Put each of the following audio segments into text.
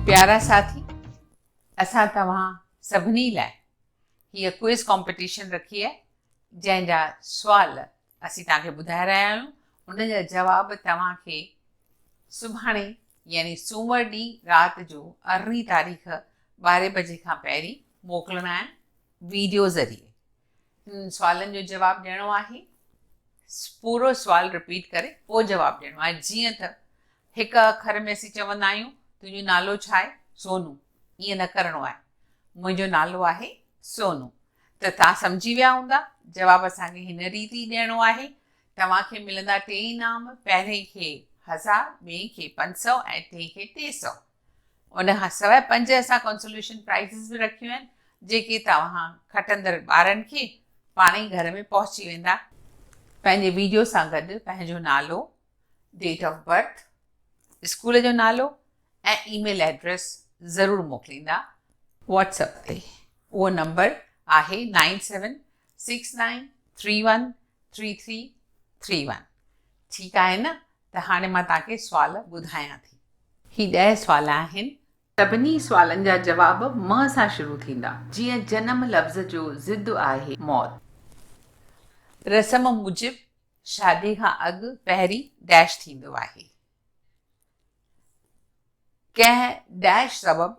پيارا ساٿي اسان توهان سڀني لاء هيء ڪوئز ڪمپٽيشن رکي آهي جنهن جا سوال اسين توهان کي ٻڌائي رهيا آهيون ان جا جواب توهان کي سڀاڻي يعني سومر ڏينهن رات جو ارڙهين تاريخ ٻارهين بجي کان پهرين موڪلڻا آهن ويڊيو ذريعي سوالن جو جواب ڏيڻو آهي پورو سوال رپيٽ ڪري پوء جواب ڏيڻو آهي جيئن ته هڪ اکر ۾ اسين چوندا آهيون تنهنجو نالو ڇا آهي سونو ائين نه ڪرڻو آهي منهنجو نالو آهي سونو ته توهان سمجهي ويا هوندا جواب اسان کي هن ريت ئي ڏيڻو آهي توهان کي ملندا ٽي انعام پهرين کي هزار ٻئي کي پنج سؤ ۽ ٽئين کي ٽي سؤ ان کان سواء پنج اسان ڪنسوليشن پرائيزز به رکيون آهن جيڪي توهان کٽندڙ ٻارن کي پاڻ ئي گهر ۾ پهچي ويندا. پنهنجي ويڊيو سان گڏ پنهنجو نالو، ڊيٽ آف برٿ، اسڪول جو نالو ۽ اي ميل ايڊريس ضرور موڪليندا. واٽس اپ تي اهو نمبر آهي nine seven six nine three one three three three one ٺيڪ آهي نه؟ ته هاڻي مان توهان کي سوال ٻڌايان ٿي. هي ڏهه سوال آهن. سڀني سوالن جا جواب م سان شروع ٿيندا. جيئن جنم لفظ جو ضد آهي موت. رسم موجب شادي کان اڳ پهرين ڊيش ٿيندو آهي. ڪنهن ڊيش سبب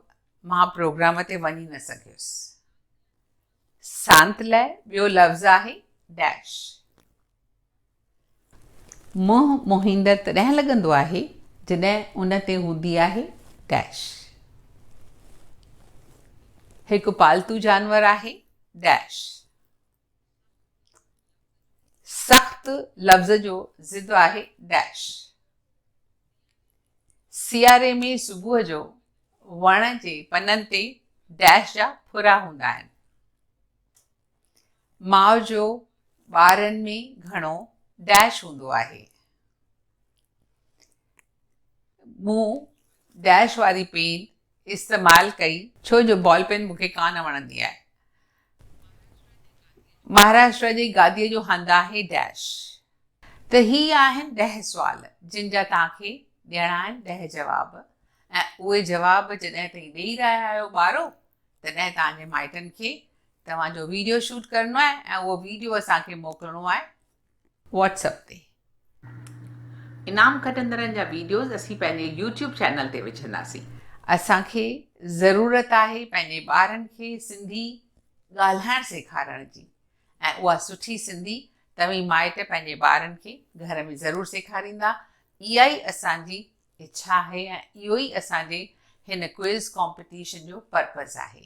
مان پروگرام تي وڃي نه سگهيس. سانت لئه ٻيو لفظ آهي ڊيش. منهن موهيندڙ تڏهن لڳندو آهي جڏهن ان تي هوندي آهي ڊيش. هڪ پالتو جانور آهي ڊيش. سخت لفظ جو ضد آهي ڊيش. سياري ۾ صبح جو وڻ جي پنن تي ڊيش جا ڦرا هوندا آهن. ماء جو ٻارن ۾ گهڻو ڊيش هوندو آهي. مون ڊيش واري پين استعمال ڪئي ڇو جو بال پين مون کي ڪانه وڻندي آهي. مهاراشٽرا جي گاديء جو هنڌ آهي ڊيش. ته هي آهن ڏهه سوال جن جا توهان کي ڏيڻا آهن ڏهه جواب ۽ اهي جواب جڏهن تائين ڏيئي رهيا آهيو ٻارو تڏهن توهان جي مائٽن کي توهان جو ويڊيو شوٽ ڪرڻو آهي ۽ اهو ويڊيو اسان کي موڪلڻو آهي واٽس اپ تي. انعام کٽندڙن جا ويڊيوز اسين پنهنجي يوٽيوب چينل تي وجهنداسين. اسان کي ضرورت آهي پنهنجي ٻارن کي سنڌي ڳالهائڻ سيکارڻ جي ۽ اها سٺي سنڌي توهين مائٽ پنهنجي ٻارن کي گهر ۾ ضرور سيکاريندا اها ئي اسان جي اڇا آهي ۽ اهو ئي اسان جي هن ڪوئز ڪامپيٽيشن جو پرپز آهي.